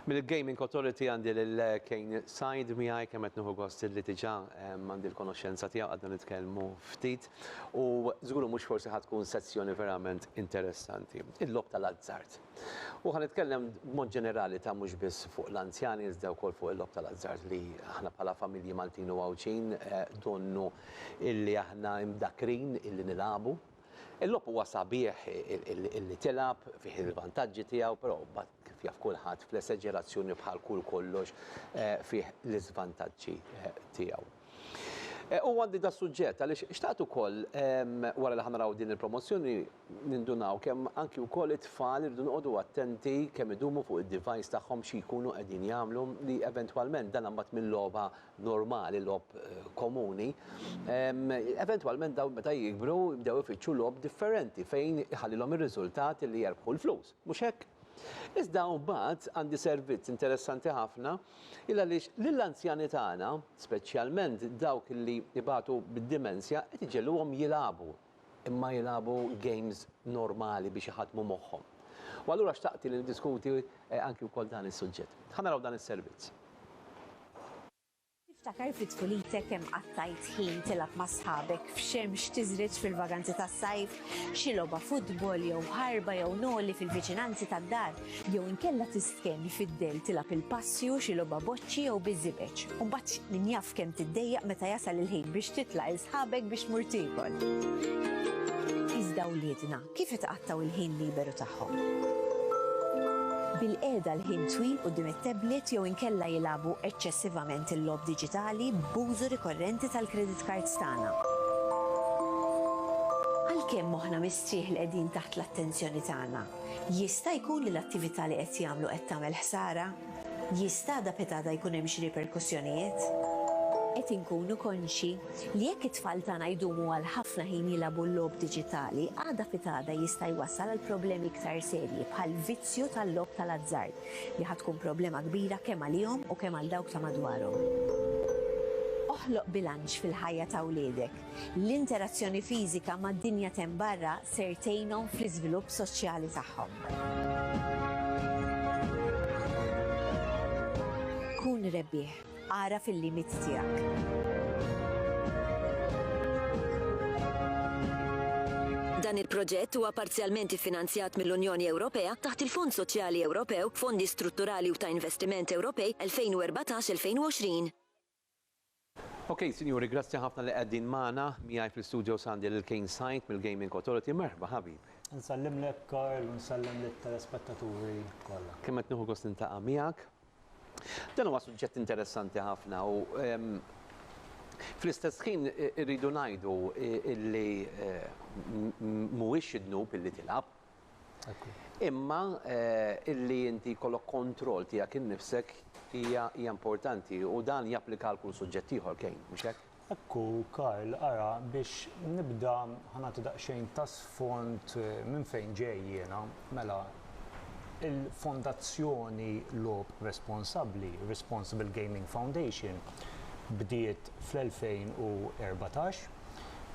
Mill-Gaming Authority għandi lil Kane Sajd miegħi kemm qed nieħu gost li diġà ehm, għandi l-konoxxenza tiegħu għadna nitkellmu ftit u żgur mhux forsi ħad tkun sezzjoni verament interessanti. Il-lob tal-azzard. U ħa nitkellem b'mod ġenerali ta' mhux biss fuq l-anzjani iżda wkoll fuq il-logħob tal-azzard li aħna bħala familji Maltin u Għawdxin donnu illi aħna imdakkrin illi nilagħbu. Il-logħob huwa sabiħ illi tilgħab, fih il-vantaġġi tiegħu, però mbagħad kif jaf kulħadd fl-eseġerazzjoni bħal kull kollox fih l-iżvantaġġi tiegħu. Eh, u għandi da suġġett, għalix xtaqt u koll, wara li ħanaraw din il-promozzjoni, nindunaw kem anki u koll it-tfal irridu nqodu attenti kem idumu fuq il-device taħħom xie jkunu għedin jamlu li eventualment dan għambat minn loba normali, lob eh, komuni. Eventualment daw meta jikbru bdew ifittxu lob differenti fejn iħallilhom ir-riżultat li jerbħu l-flus. Mhux hekk? Iżda mbagħad għandi servizz interessanti ħafna, il għaliex lill-anzjani tagħna, speċjalment dawk li jbatu bid-dimensja, qed iġegħluhom jilagħbu, imma jilagħbu games normali biex iħaddmu moħħhom. U allura xtaqt li niddiskuti anki wkoll dan is-suġġett. Ħa naraw dan is-servizz. Tiftakar fi tfulitek kemm qattajt ħin tilgħab ma' sħabek f'xemx tiżred fil-vaganzi tas-sajf, xi logħba futbol jew ħarba jew noli fil-viċinanzi tad-dar, jew inkella tistkenn fid-dell tilgħab il-passju, xi logħba boċċi jew biż-żibeġ, u mbagħad min jaf kemm tiddejjaq meta jasal il-ħin biex titlaq 'il sħabek biex tmur tiekol. Iżda wliedna, Kif itqattgħu l-ħin liberu tagħhom? Bil-qiegħda l-ħin twil quddiem it-tablet jew inkella jilagħbu eċċessivament il-logħob diġitali b'użu rikorrenti tal-credit cards tagħna. Għalkemm moħħna mistrieħ li qegħdin taħt l-attenzjoni tagħna, jista' jkun li l-attività li qed jagħmlu qed tagħmel ħsara? Jista' għada pitada jkun hemm xi riperkussjonijiet? Qed inkunu konxji li jekk it-tfal tagħna jdumu għal ħafna ħin jilagħbu l-logħob diġitali, għada pitada jista' jwassal għal problemi iktar serji bħal vizzju tal-logħob tal-azzard li ħa tkun problema kbira kemm għalihom u kemm għal dawk ta' madwarhom. Oħloq bilanċ fil-ħajja ta' wliedek. L-interazzjoni fiżika mad-dinja t'hemm barra ser tgħinhom fl-iżvilupp soċjali tagħhom. Kun rebbieħ, agħraf il-limiti tiegħek. Dan il-proġett huwa parzjalment iffinanzjat mill-Unjoni Ewropea taħt il-Fond Soċjali Ewropew, Fondi Strutturali u ta' Investiment Ewropej 2014-2020. Ok sinjuri grazzi ħafna li qegħdin magħna, miegħi fl-istudios għandi lil Kane Said mill-Gaming Authority, merħba ħabib. Nsellimlek Karl u nsellem lit-telespettaturi kollha. Kemm qed nieħu gost niltaqa' miegħek. Dan huwa suġġett interessanti ħafna u fl-istess ħin irridu ngħidu illi mhuwiex xi dnub illi tilgħab, Imma illi inti jkollok kontroll tiegħek innifsek hija hija importanti u dan japplika għal kull suġġett ieħor, Kane, mhux hekk? Hekk hu, Karl. Ara, biex nibda, ħa nagħti daqsxejn ta' sfond minn fejn ġej jiena. Mela, il-Fondazzjoni Logħob Responsabbli, Responsible Gaming Foundation, bdiet fl-2014,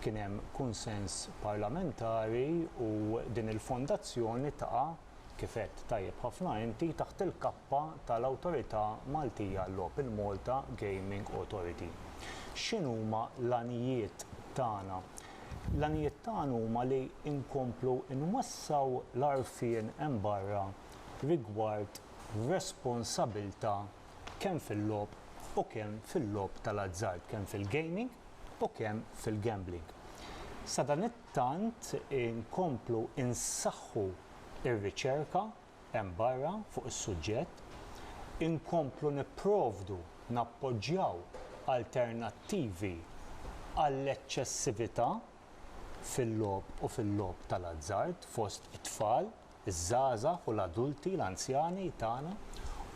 Kien hemm kunsens parlamentari u din il-fondazzjoni taqa', kif għedt tajjeb ħafna inti, taħt il-kappa tal-Awtorità Maltija għal-Logħob, il-Malta Gaming Authority. X'inhuma l-għanijiet tagħna? L-għanijiet tagħna huma li nkomplu nwessgħu l-għarfien hemm barra rigward responsabilità kemm fil-logħob u kemm fil-logħob tal-azzard, kemm fil-gaming u kemm fil-gambling. Sadanittant inkomplu insaħħu r-riċerka hemm barra fuq is-suġġett, inkomplu nipprovdu, nappoġġjaw alternattivi għall-eċċessività fil-logħob u fil-logħob tal-azzard fost it-tfal, iż-żgħażagħ u l-adulti, l-anzjani, tagħna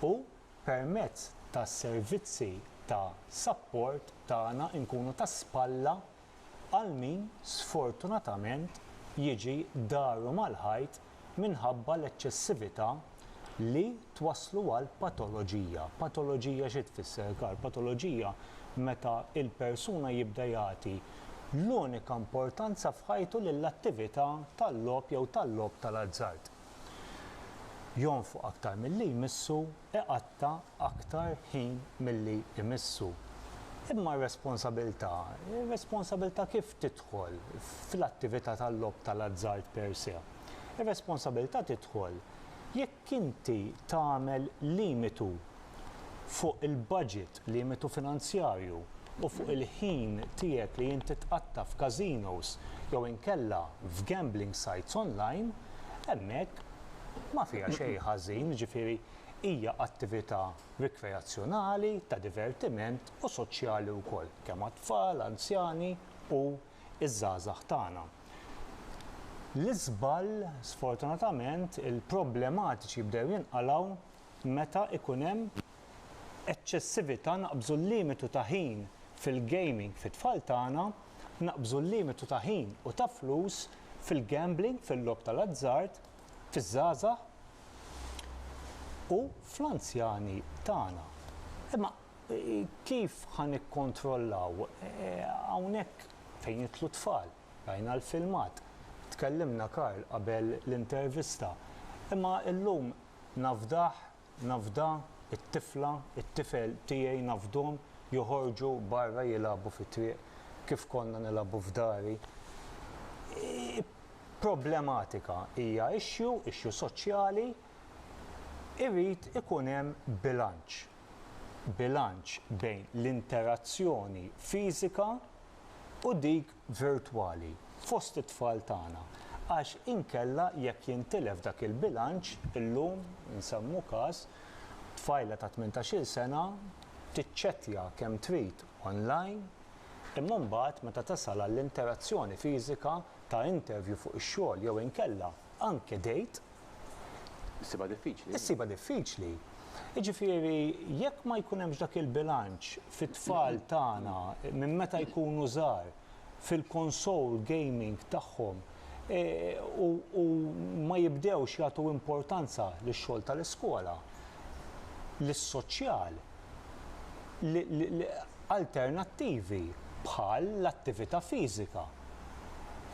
u permezz tas-servizzi ta' sapport tagħna nkunu ta' spalla għal min sfortunatament jiġi daru mal-ħajt minħabba l-eċċessività li twasslu għal patoloġija. Patoloġija xi tfisser Karl? Patoloġija meta l-persuna jibda jagħti l-unika importanza f'ħajtu li l-attività tal-logħob jew tal-logħob tal-azzard jonfoq aktar milli jmissu, iqatta' aktar ħin milli jmissu. Imma r-responsabilità, ir-responsabilità kif tidħol fl-attività tal-logħob tal-azzard per se? Ir-responsabilità tidħol jekk Jekk inti tagħmel limitu fuq il-baġit, limitu finanzjarju, u fuq il-ħin tiegħek li inti tqatta' f'każinos jew inkella f'gambling sites onlajn, hemmhekk ma fiha xejn ħażin, jiġifieri hija attività rikreazzjonali, ta' divertiment u soċjali wkoll, kemm għat-tfal, anzjani u iż-żgħażagħ tagħna. L-iżball, sfortunatament, il-problematiċi jibdew jinqalgħu meta jkun hemm eċċessività, naqbżu l-limitu ta' ħin fil-gaming fit-tfal tagħna, naqbżu l-limitu ta' ħin u ta' flus fil-gambling, fil-logħob tal-azzard, fiż-żgħażagħ u fl-anzjani tagħna. Imma Kif ħa nikkontrollaw? Hawnhekk fejn jidħlu t-tfal. Rajna l-filmat. Tkellimna, Karl, qabel l-intervista. Imma illum nafdah, nafdha, it-tifla, it-tifel tiegħi nafdhom joħorġu barra jilagħbu fit-triq kif konna nilagħbu f'dari. Hi problematika, hija issue, issue soċjali. Irid ikun hemm bilanċ. bilanċ bejn l-interazzjoni fiżika u dik virtwali fost it-tfal tagħna għax inkella jekk jintilef dak il-bilanċ illum insemmu każ tfajla ta' tmintax-il sena tiċċettja kemm trid online imma mbagħad meta tasal għall-interazzjoni fiżika ta' interview fuq ix-xogħol jew inkella anke date Issibha diffiċli. Issibha diffiċli. Jiġifieri jekk ma jkun hemmx dak il-bilanċ fit-tfal tagħna minn meta jkunu żgħar fil-konsol gaming tagħhom e, u, u ma jibdewx jagħtu importanza lix-xogħol tal-iskola, lis-soċjal, alternattivi bħal l-attività fiżika.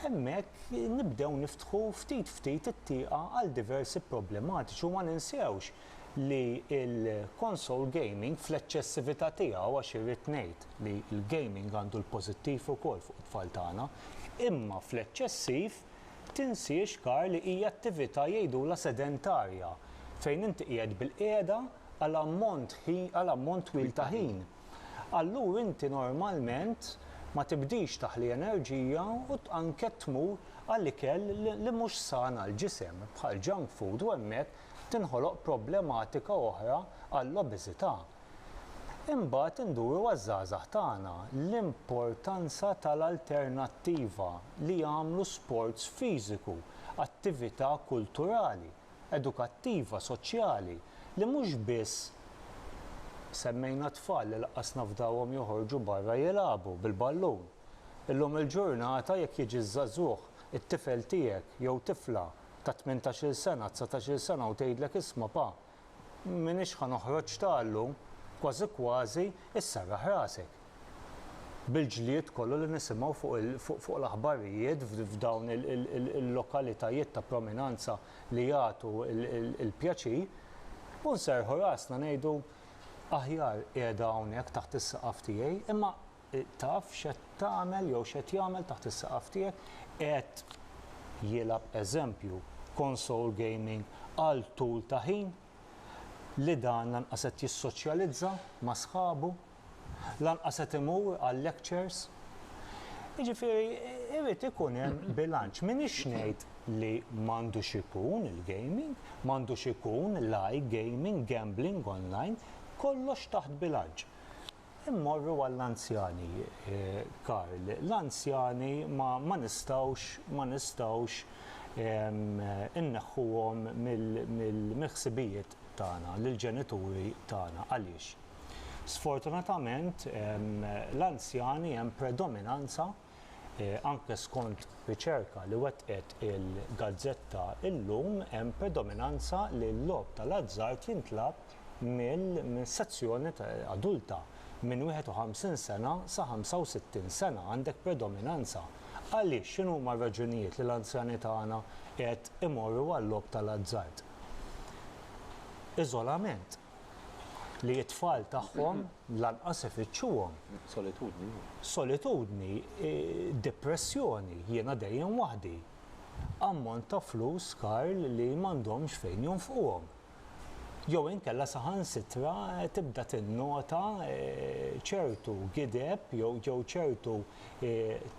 Hemmhekk nibdew niftħu ftit ftit it-tieqa għal diversi problematiċi u ma ninsewx li l-console gaming fl-eċċessività tiegħu, għax irrid ngħid li l-gaming għandu l-pożittiv ukoll fuq it-tfal tagħna, imma fl-eċċessiv tinsiex kar li hija attività jgħidulha sedentarja fejn inti qiegħed bil-qiegħda għal ammont twil ta' ħin. allur inti normalment ma tibdix taħli enerġija u anke tmur għal ikel li mhux san għall-ġisem, bħal junk food u hemmhekk tinħoloq problematika oħra għall-obeżità. Imbagħad induru għaż-żgħażagħ tagħna, l-importanza tal-alternattiva li jagħmlu sports fiżiku, attività kulturali. edukattiva, soċjali li mhux biss semmejna t-tfal li laqqas nafdawhom joħorġu barra jilagħbu bil-ballun. Illum il-ġurnata jekk jiġi ż-żagħżugħ, it-tifel tiegħek jew tifla ta' tmintax-il sena, dsatax-il sena u tgħidlek isma' pa, m'iniex ħa noħroġ ta' llum, kważi kważi issarraħ rasek. bil-ġlied kollu li nisimgħu fuq l-aħbarijiet f'dawn il-lokalitajiet ta' prominanza li jagħtu l-pjaċir u nserrħu rasna ngħidu aħjar qiegħda hawnhekk taħt is-saqaf tiegħi imma taf x'qed tagħmel jew x'qed jagħmel taħt is-saqaf tiegħek qed jilgħab eżempju konsol gaming għal tul ta' ħin. li dan lanqas qed jissoċjalizza ma' sħabu, lanqas qed imur għal-lectures. Jiġifieri jrid ikun hemm bilanċ. M'iniex ngħid li m'għandux ikun il-gaming, m'għandux ikun l-i-gaming, gambling online, kollox taħt bilanċ. Immorru għall-anzjani, Karl. L-anzjani ma, ma nistgħux, ma nistgħux inneħħuhom mill, mill, mill-ħsibijiet tagħna, lill-ġenituri tagħna. Għaliex? Sfortunatament, l-anzjani hemm predominanza, Anke skont riċerka li wettqet il-gazzetta illum hemm predominanza li l-logħob tal-azzard jintlagħab minn sezzjoni adulta, minn 51 sena sa 65 sena għandek predominanza. Għaliex? X'inhuma r-raġunijiet li l-anzjani tagħna qed imorru għal-logħob tal-azzard? Iżolament. li t-tfal tagħhom lanqas ifittxuhom. Solitudni. Solitudni, depressjoni, jiena dejjem waħdi. Ammont ta' flus, Karl, li m'għandhomx fejn jonfquhom. Jew inkella saħansitra tibda tinnota ċertu gideb jew ċertu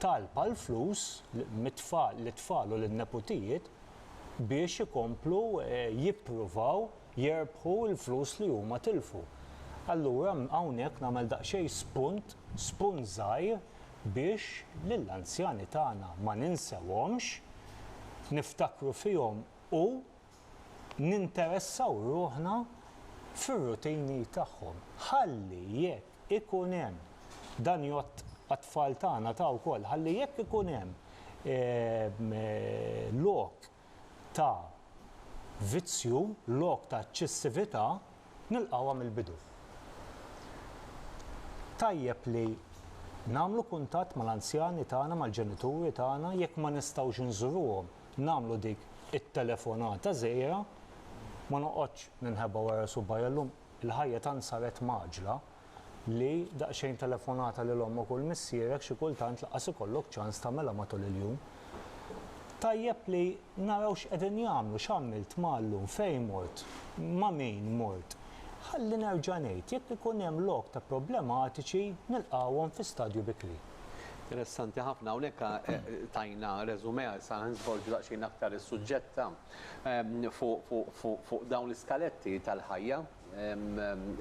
talb għall-flus mit-tfal, lit-tfal u lin-neputijiet biex ikomplu jippruvaw, jerbħu l-flus li huma tilfu. Allura hawnhekk nagħmel daqsxejn spunt, spunt żgħir biex lill-anzjani tagħna ma ninsewhomx, niftakru fihom u ninteressaw ruħna fir-rutini tagħhom. Ħalli jekk ikun hemm, dan jgħodd għat-tfal tagħna ta' wkoll, ħalli jekk ikun hemm lok ta' vizzju, lok ta' eċċessività, nilqgħuha mill-bidu. Tajjeb li nagħmlu kuntatt mal-anzjani tagħna, mal-ġenituri tagħna, jekk ma nistgħux inżuruhom, nagħmlu dik it-telefonata żgħira, ma noqgħodx ninħeba wara subgħajja llum, il-ħajja tant saret mgħaġġla, li daqsxejn telefonata lil ommok u 'l missierek xi kultant lanqas ikollok ċans tagħmilha matul il-jum. Tajjeb li naraw x'qegħdin jagħmlu, x'għamilt, ma' llum, fejn mort, ma' min mort. Ħalli nerġa' ngħid, jekk ikun hemm lok ta' problematiċi nilqgħuhom fi stadju bikri. Interessanti ħafna, hawnhekk tajna resumé, issa nsvolġu daqsxejn aktar is-suġġett ta' fuq dawn l-iskaletti tal-ħajja.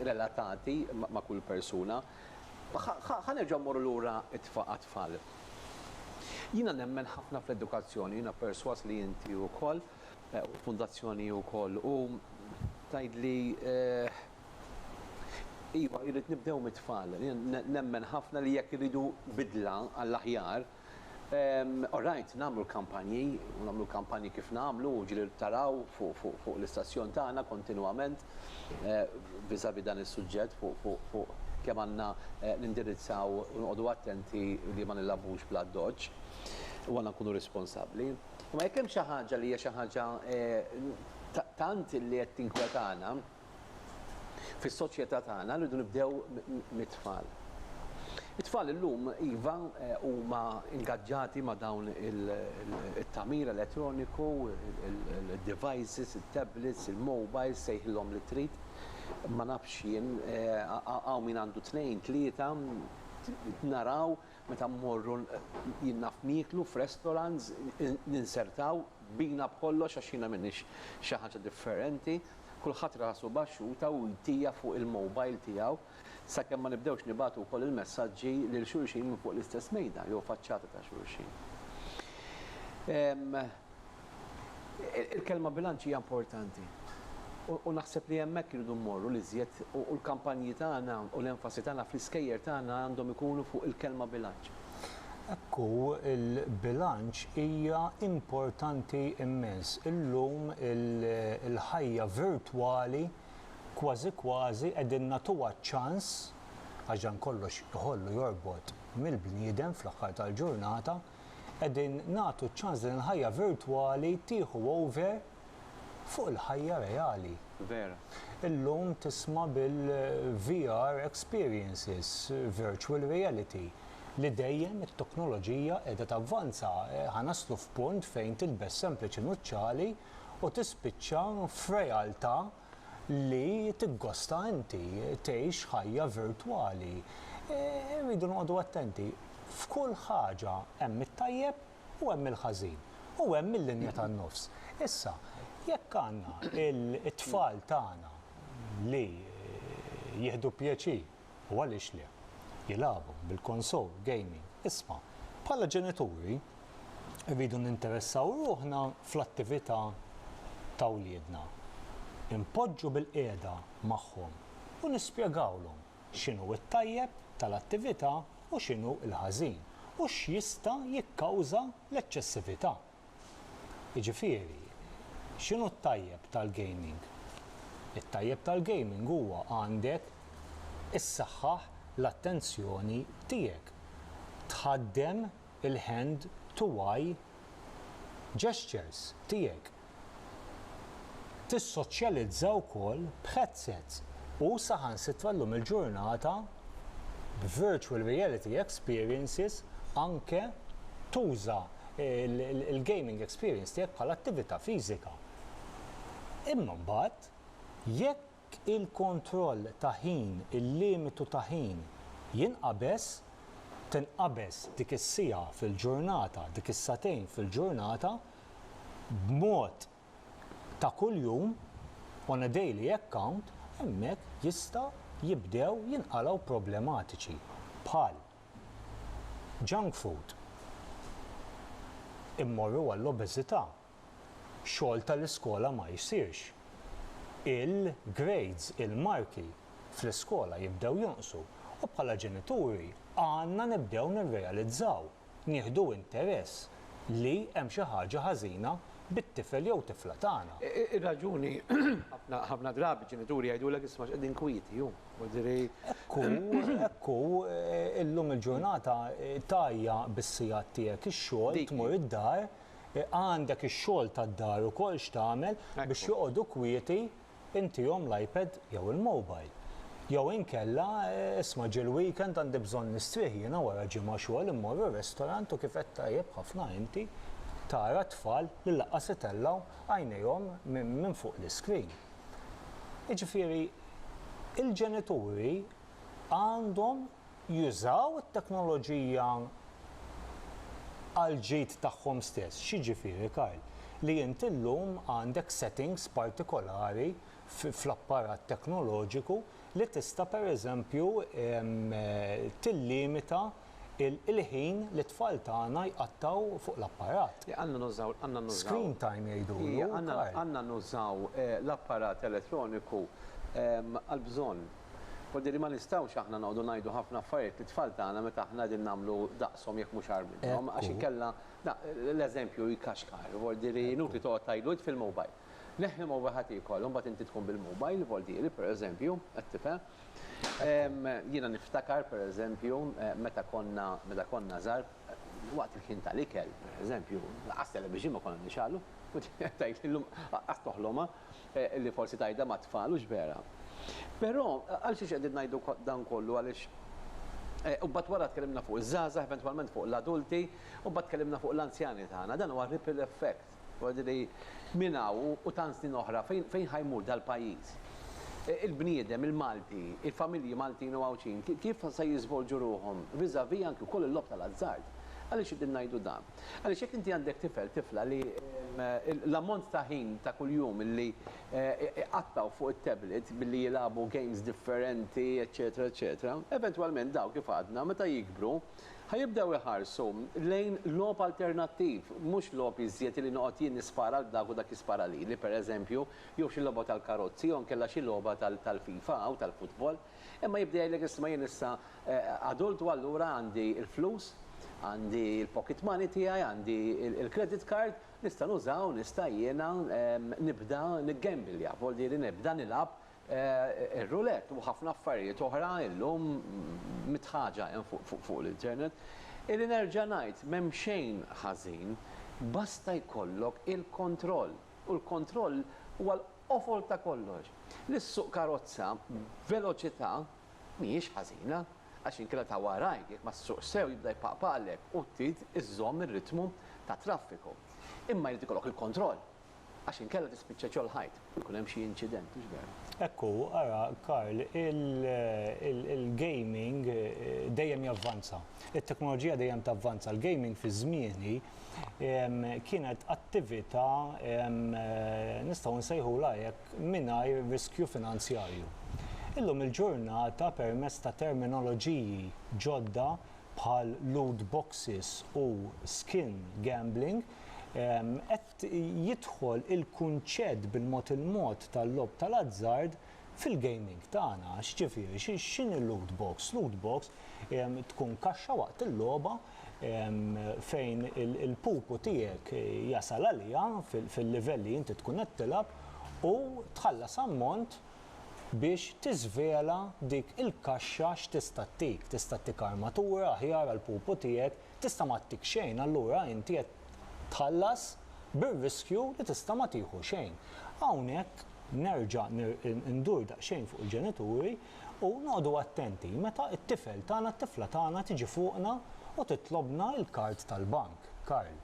relatati ma' kull persuna. Ħa nerġgħu mmorru lura għat-tfal. Jiena nemmen ħafna fl-edukazzjoni, jiena persważ li inti wkoll, u l-Fundazzjoni wkoll, u tgħidli, iva, irrid nibdew mit-tfal. Jiena nemmen ħafna li jekk irridu bidla għall-aħjar, All right, nagħmlu l-kampanji, u nagħmlu l-kampanji kif nagħmlu, ġieli taraw fuq l-istazzjon tagħna kontinwament vis-à-vis dan is-suġġett fuq kemm għandna nindirizzaw u noqogħdu attenti li ma nilagħbux bl-addoċċ u għandna nkunu responsabbli. Imma jekk hemm xi ħaġa li hija xi ħaġa tant li qed tinkwetana, Fis-soċjetà tagħna rridu nibdew mit-tfal. It-tfal illum iva huma ingaġġati ma' dawn it-tagħmir elettroniku, id-devices, it-tablets, il-mobiles, sejħilhom li trid. Ma nafx jien, hawn min għandu tnejn, tlieta, naraw meta mmorru jien naf nieklu f'restaurants, ninsertaw, bina b'kollox għax jiena m'iniex xi ħaġa differenti. Kulħadd rasu baxxuta u jtija fuq il-mowbajl tiegħu sakemm ma nibdewx nibagħtu wkoll il-messaġġi lil xulxin minn fuq l-istess mejda jew faċċata ta' xulxin. Il-kelma bilanċ hija importanti u naħseb li hemmhekk irridu mmorru l-iżjed u l-kampanji tagħna u l-enfasi tagħna fl-iskejjer tagħna għandhom ikunu fuq il-kelma bilanċ. Hekk hu, il-bilanċ hija importanti immens. Illum il-ħajja virtwali kważi kważi qegħdin nagħtuha ċ-ċans, għax dan kollox iħollu jorbot mill-bniedem fl-aħħar tal-ġurnata, qegħdin nagħtu ċ-ċans li din il-ħajja virtwali tieħu over fuq il-ħajja reali. Vera. Illum tisma' bil-VR experiences, virtual reality, li dejjem it-teknoloġija qiegħda tavvanza. Ħa naslu f'punt fejn tilbes sempliċi nuċċali u tispiċċa f'realtà li tiggosta inti, tgħix ħajja virtwali. Irridu noqogħdu attenti. F'kull ħaġa hemm it-tajjeb u hemm il-ħażin u hemm il-linja tan-nofs. Issa, jekk għandna it-tfal tagħna li jieħdu pjaċir, u għaliex le, jilagħbu bil-konsol, gaming, isma', bħala ġenituri rridu ninteressaw ruħna fl-attività ta' wliedna. Inpoġġu bilqiegħda magħhom u nispjegawlhom. x'inhu t-tajjeb tal-attività u x'inhu l-ħażin u x'jista' jikkawża l-eċċessività. Jiġifieri, x'inhu t-tajjeb tal-gaming? It-tajjeb tal-gaming huwa għandek issaħħaħ l-attenzjoni tiegħek, tħaddem il-hand to eye gestures tiegħek. tissoċjalizza wkoll b'headsets u saħansitra llum il-ġurnata b'virtual reality experiences anke tuża l-gaming experience tiegħek bħala attività fiżika. Imma mbagħad jekk il-kontroll ta' ħin, il-limitu ta' ħin, jinqabeż, tinqabeż dik is-siegħa fil-ġurnata, dik is-sagħtejn fil-ġurnata, b'mod ta' kuljum, on a daily account, hemmhekk jista' jibdew jinqalgħu problematiċi bħal junk food, immorru għall-obeżità. xogħol tal-iskola ma jsirx. Il-grades, il-marki, fl-iskola jibdew jonqsu u bħala ġenituri għandna nibdew nirrealizzaw, nieħdu interess li hemm xi ħaġa ħażina bit-tifel jew tifla tagħna. Ir-raġuni, ħafna drabi ġenituri jgħidulek isma' x'qegħdin kwieti hu, jiġifieri. Hekk hu, hekk hu, illum il-ġurnata tgħajja bis-sigħat tiegħek ix-xogħol, tmur id-dar, Għandek ix-xogħol tad-dar ukoll x'tagħmel biex joqogħdu kwieti, intihom l-iPad jew il-mobile. Jew inkella, isma' ġie l-weekend għandi bżonn nistrieħ jiena wara ġimgħa xogħol immorru r-restaurant u kif għedt tajjeb ħafna inti, tara t-tfal li lanqas itellgħu għajnejhom minn fuq l-iscreen. Jiġifieri, il-ġenituri għandhom jużaw it-teknoloġija għall-ġid tagħhom stess. X'jiġifieri, Karl? Li inti llum għandek settings partikolari fl-apparat teknoloġiku li tista' pereżempju tillimita l-ħin li t-tfal tagħna jqattgħu fuq l-apparat. Le, għandna nużaw, għandna nużaw. Screen time jgħidulu, Karl. Għandna nużaw l-apparat elettroniku għall-bżonn. Hu di li ma nistgħux aħna noqogħdu ngħidu ħafna affarijiet lit-tfal tagħna meta aħna qegħdin nagħmlu daqshom jekk mhux agħar minnhom għax inkella l-eżempju jkaxkar. Hu di li inutli toqgħod tgħidlu itfi l-mobile. Neħħi l-mobile ħa tiekol u mbagħad inti tkun bil-mobile, hu di li pereżempju qed tifhem. Jiena niftakar pereżempju meta konna meta konna żgħar waqt il-ħin tal-ikel pereżempju, lanqas television ma konna nixgħalu, hu di qed tgħidli llum lanqas toħlomha. li forsi tgħidha mat-tfal u x'vera. Però għalxiex qegħdin ngħidu dan kollu għaliex u mbagħad wara tkellimna fuq iż-żgħażagħ eventwalment fuq l-adulti u mbagħad tkellimna fuq l-anzjani tagħna. Dan huwa ripple effect. Jiġifieri minn hawn u tant snin oħra fejn fejn ħa jmur dal-pajjiż? Il-bniedem, il-Malti, il-familji Maltin u Għawdxin kif se jiżvolġu ruħhom vis-à-vis anki wkoll il-logħob tal-azzard? Għaliex qegħdin ngħidu dan? Għaliex jekk inti għandek tifel, tifla li l-ammont ta' ħin ta' kuljum li iqattgħu fuq it-tablet billi jilagħbu games differenti, eċċetera eċċetera, eventwalment daw kif għadna meta jikbru ħa jibdew iħarsu lejn logħob alternattiv, mhux logħob iżjed li noqgħod jien nispara lil dak u dak jispara lili, pereżempju, jew xi logħba tal-karozzi jew inkella xi logħba tal-FIFA jew tal-futbol. Imma jibda jgħidlek isma' jien issa adult u allura għandi l-flus, għandi l-pocket money tiegħi, għandi l-credit card, nista' nuża u nista' jiena nibda niggembelja, vvoljieri nibda nilgħab ir-roulette u ħafna affarijiet oħra illum mitħaġa hemm fuq l-internet. Illi nerġa' ngħid m'hemm xejn ħażin basta jkollok il-kontroll u l-kontroll huwa Qofol ta' kollox, li ssuq karozza b'veloċità mhijiex ħażina għax inkella ta' warajk jekk ma ssuqx sew jibda jpaqpaqlek u trid iżżomm ir-ritmu tat-traffiku. Imma jrid ikollok il-kontroll għax inkella tispiċċa ġol ħajt u jkun hemm xi inċident, hux veru? Hekk hu, ara Karl, il-gaming dejjem javvanza. It-teknoloġija dejjem tavvanza. Il-gaming fi żmieni kienet attività nistgħu nsejħulha hekk mingħajr riskju finanzjarju. Illum il-ġurnata permezz ta' terminoloġiji ġodda bħal loot boxes u skin gambling qed jidħol il-kunċett bil-mod il-mod tal-logħob tal-azzard Fil-gaming tagħna, x'ġifieri, x'inhi loot box? Loot box tkun kaxxa waqt il-logħba fejn il-pupu tiegħek jasal għaliha fil-livell li inti tkun qed tilgħab u tħallas ammont biex tiżvela dik il-kaxxa x'tista' ttik. Tista' ttik armatura aħjar għall-pupu tiegħek Tista' ma ttik xejn, allura inti qed tħallas bir-riskju li tista' ma tieħu xejn. Hawnhekk nerġa' ndur daqsxejn fuq il-ġenituri u noqogħdu attenti meta t-tifel tagħna, t-tifla tagħna tiġi fuqna u titlobna l-kard tal-bank, Karl.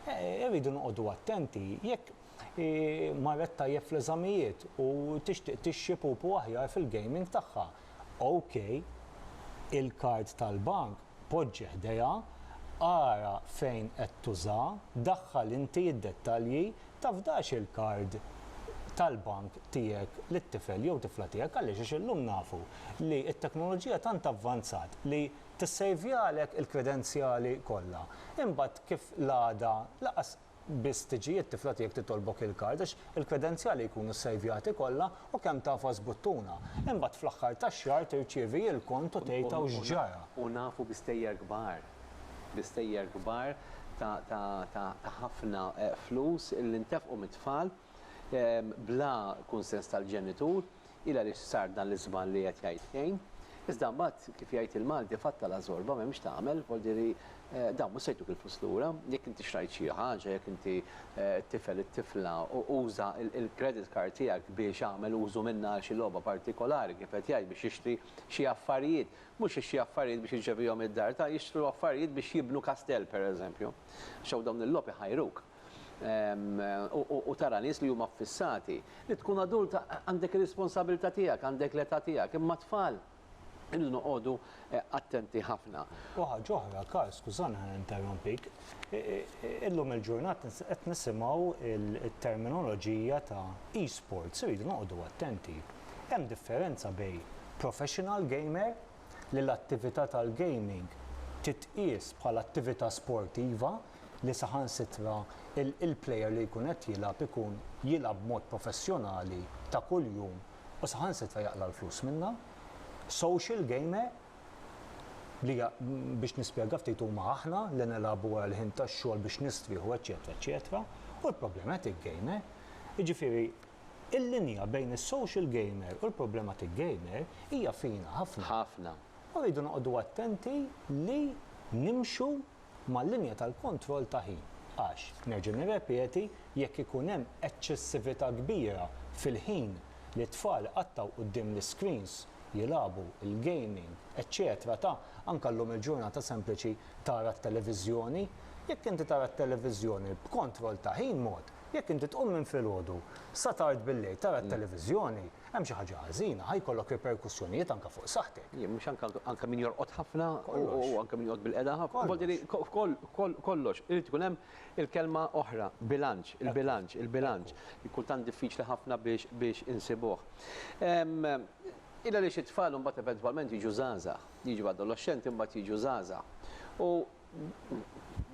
Irridu noqogħdu attenti jekk hi marret tajjeb fl-eżamijiet u tixtieq tixxi pupu aħjar fil-gaming tagħha. OK, il-kard tal-bank poġġi ħdejha, ara fejn qed tuża, daħħal inti id-dettalji, tafdax il-kard tal-bank tiegħek lit-tifel jew tifla tiegħek għaliex għax illum nafu li t-teknoloġija tant avvanzat li tissejvjalek il-kredenzjali kollha. Imbagħad kif l-għada lanqas biss tiġi t-tifla tiegħek titolbok il-kard għax il-kredenzjali jkunu ssejvjati kollha u kemm tafa żbuttuna. Imbagħad fl-aħħar tax-xahar tirċievi il-kont u tgħid hawn x'ġara. U nafu bi stejjer kbar, bi stejjer kbar ta' ħafna flus li ntefqu mit-tfal. bla kunsens tal-ġenitur, hi l-għaliex sar dan l-iżball li qed jgħid Kane. Iżda mbagħad, kif jgħid il-Malti, fatta la żorba, m'hemm x'tagħmel, vol dire, dawn mhux se jtuk il-flus lura. Jekk inti xtrajt xi ħaġa, jekk inti t-tifel, it-tifla, uża l-credit card tiegħek biex agħmel użu minnha għal xi logħba partikolari, kif qed jgħid, biex jixtri xi affarijiet, mhux xi affarijiet biex iġġevihom id-dar, ta' jixtru affarijiet biex jibnu kastell, pereżempju. Għax hawn dawn il-logħob iħajruk. u tara nies li huma ffissati. Li tkun adult għandek ir-responsabilità tiegħek, għandek l-età tiegħek, imma t-tfal irridu noqogħdu attenti ħafna. U ħaġa oħra, Karl, skużani ħa ninterrompik, illum il-ġurnata qed nisimgħu t-terminoloġija ta' e-sports, irridu noqogħdu attenti. Hemm differenza bejn professional gamer li l-attività tal-gaming titqies bħala attività sportiva, li saħansitra l-player li jkun qed jilgħab ikun jilgħab b'mod professjonali ta' kuljum u saħansitra jaqla' l-flus minnha. Social game li hija biex nispjega ftit huma aħna li nilagħbu wara l-ħin tax-xogħol biex nistrieħu eċċetera eċċetera u l-problematic game jiġifieri l-linja bejn is-social game u l-problematic game hija fina ħafna. Ħafna. U rridu noqogħdu attenti li nimxu mal-linja tal-kontroll ta' ħin għax, nerġa' nirrepeti, jekk ikun hemm eċċessività kbira fil-ħin li t-tfal iqattgħu quddiem l-iscreens, jilagħbu, il-gaming, eċċetera ta' anke llum il-ġurnata sempliċi tara t-televiżjoni, jekk inti tara t-televiżjoni b'kontroll ta' ħin mod, jekk inti tqum minn filgħodu sa tard billejl tara t-televiżjoni, Hemm xi ħaġa ħażina, ħa jkollok riperkussjonijiet anke fuq saħħtek. Jien mhux anke anke min jorqod ħafna u anke min joqgħod bil-qeda ħafna. Kollox. Jiġifieri f'koll f'koll kollox irid ikun hemm il-kelma oħra, bilanċ, il-bilanċ, il-bilanċ. Kultant diffiċli ħafna biex biex insibuh. Il għaliex it-tfal imbagħad eventwalment jiġu żgħażagħ, jiġu adoloxxenti imbagħad jiġu żgħażagħ. U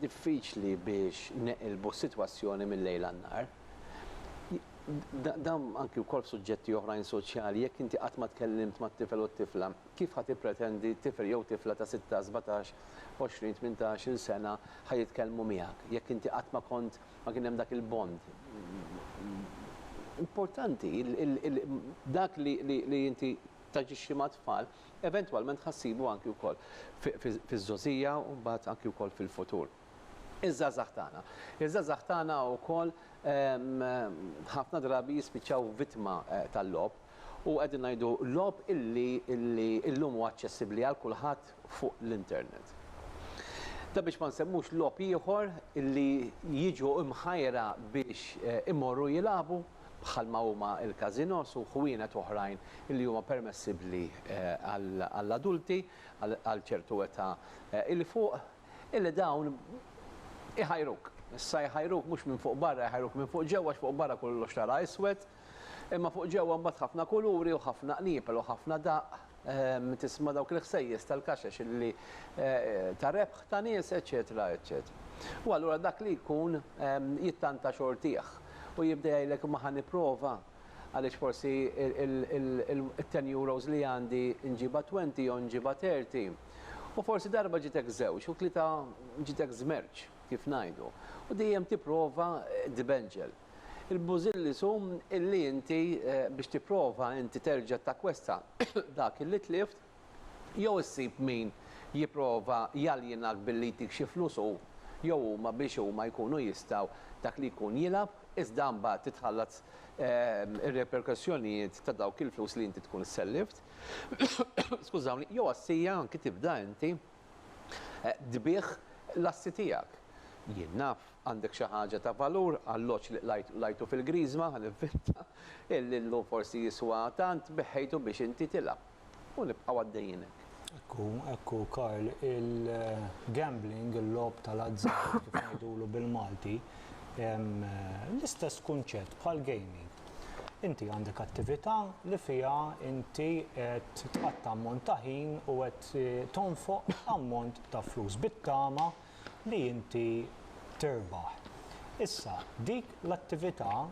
diffiċli biex neqilbu s-sitwazzjoni mil-lejl għan-nhar. Dan anki wkoll f'suġġetti oħrajn soċjali, jekk inti qatt ma tkellimt mat-tifel u t-tifla, kif ħa tippretendi tifel jew tifla ta' sitta, sbatax, għoxrin, tmintax il sena ħa jitkellmu miegħek, jekk inti qatt ma kont, ma kien hemm dak il-bond. Importanti dak li inti taġixxi mat-tfal Eventwalment ħa ssibu anki wkoll fiż-żgħożija u mbagħad anki wkoll fil-futur. Iż-żgħażagħ tagħna. Iż-żgħażagħ tagħna wkoll ħafna drabi jispiċċaw vittma tal-logħob u qegħdin ngħidu logħob illi illum huwa aċċessibbli għal kulħadd fuq l-internet. Dan biex ma nsemmux logħob ieħor illi jiġu mħajra biex imorru jilagħbu. bħalma huma l-każinos u ħwienet oħrajn li huma permessibbli għall-adulti għal ċertu età 'il fuq, illi dawn iħajruk. Issa jħajruk mhux minn fuq barra, jħajruk minn fuq ġewwa għax fuq barra kollox tara iswed, imma fuq ġewwa mbagħad ħafna kuluri u ħafna qnieper u ħafna daqq. Min tisma' dawk il-ħsejjes tal-kaxex li ta' rebħ ta' nies, eċċetera, eċċetera. U allura dak li jkun jittanta xortih u jibda jgħidlek imma ħa nipprova għaliex forsi it-ten euros li għandi nġibha twenty jew nġibha thirty. U forsi darba ġitek żewġ u tlieta ġitek żmerċ kif ngħidu. U dejjem tipprova tbeġġel. Il-bużilli su illi inti biex tipprova inti terġa' takkwesta dak illi tlift jew issib min jipprova jaljenak billi jtik xi flus hu jew huma biex huma jkunu jistgħu dak li jkun jilgħab iżda mbagħad titħallat ir-reperkussjonijiet ta' dawk il-flus li inti tkun sellift skużawni jew għas-sija anki tibda inti tbigħ l-assi tiegħek. Jien naf. Għandek xi ħaġa ta' valur, alloġġ li qlajt u lajtu fil-Griżma, ħa ninventa, illi llum forsi jiswa tant, beħħejtu biex inti tilgħab. U nibqgħu għaddejjin hekk. Hekk hu, hekk hu, Karl. Il-gambling, il-logħob tal-azzard, kif ngħidulu bil-Malti, hemm l-istess kunċett bħall-gaming. Inti għandek attività li fiha inti qed tqatta' ammont ta' ħin u qed tonfoq ammont ta' flus bit-tama li inti tirbaħ. Issa, dik l-attività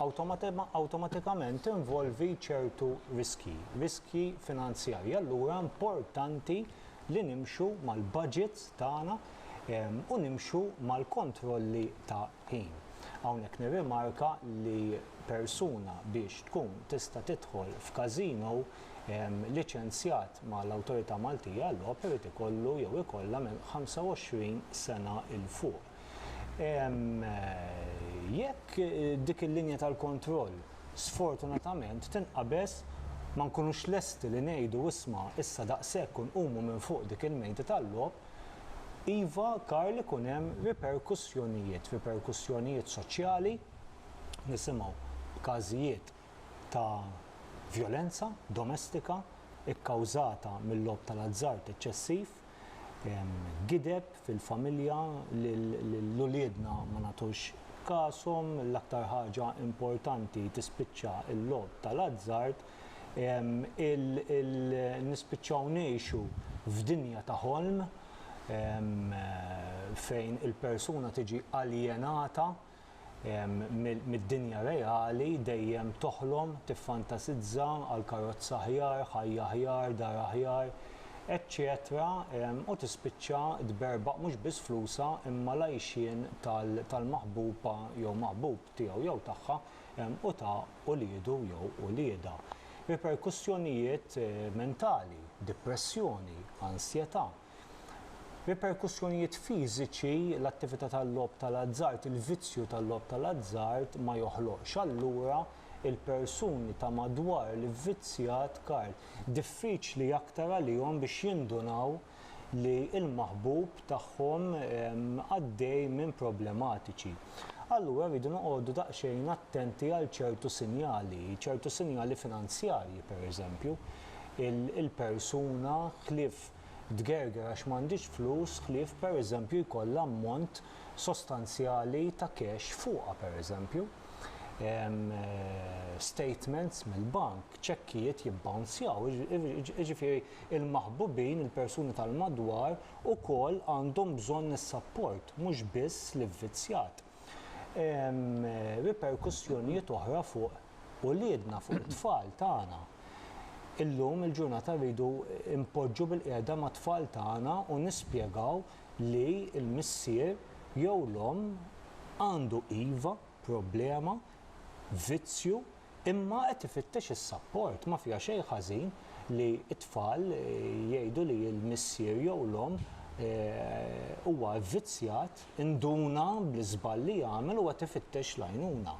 awtomatikament tinvolvi ċertu riskji, riskji finanzjarji. Allura importanti li nimxu mal-baġits tagħna u nimxu mal-kontrolli ta' ħin. Hawnhekk nirrimarka li persuna biex tkun tista' tidħol f'każino, liċenzjat mal-Awtorità Maltija għal-Logħob irid ikollu jew ikollha minn 25 sena 'l fuq. Jekk dik il-linja tal-kontroll sfortunatament tinqabeż, ma nkunux lesti li ngħidu isma' issa daqshekk u nqumu minn fuq dik il-mejda tal-logħob, iva Karl ikun hemm riperkussjonijiet, riperkussjonijiet soċjali, nisimgħu b'każijiet, ta' vjolenza domestika kkawżata mil-logħob tal-azzard eċċessiv, gideb fil-familja lil uliedna ma nagħtux kashom, l-aktar ħaġa importanti tispiċċa l-logħob tal-azzard, nispiċċaw ngħixu f'dinja ta' ħolm fejn il-persuna tiġi aljenata. mid-dinja reali dejjem toħlom, tiffantasizza għal karozza aħjar, ħajja aħjar, dar aħjar, eċċetera u tispiċċa tberbaq mhux biss flusha imma l-għajxien tal-maħbuba jew maħbub tiegħu jew tagħha u ta' uliedu jew uliedha. Riperkussjonijiet mentali, dipressjoni, ansjetà. Riperkussjonijiet fiżiċi l-attività tal-logħob tal-azzard il-vizzju tal-logħob tal-azzard ma joħloqx, allura il-persuni ta' madwar l-ivvizzjat Karl diffiċli aktar għalihom biex jindunaw li l-maħbub tagħhom għaddej minn problematiċi. Allura rridu noqogħdu daqsxejn attenti għal ċertu sinjali, ċertu sinjali finanzjarji pereżempju, il-persuna ħlief tgerger għax m'għandhiex flus ħlief pereżempju jkollha ammont sostanzjali ta' cash fuqha pereżempju statements mill-bank, ċekkijiet jibbawnzjaw jiġifieri l-maħbubin, il-persuni tal-madwar ukoll għandhom bżonn is-sapport mhux biss l-ivvizzjat. hemm riperkussjonijiet oħra fuq uliedna, fuq it-tfal tagħna. Illum il-ġurnata rridu npoġġu bilqiegħda mat-tfal tagħna u nispjegaw li l-missier jew l-omm għandu iva problema vizzju imma qed ifittex is-sapport. Ma fiha xejn ħażin li t-tfal jgħidu li l-missier jew l-omm huwa vvizzjat, induna bl-iżball li għamel u qed ifittex l-għajnuna.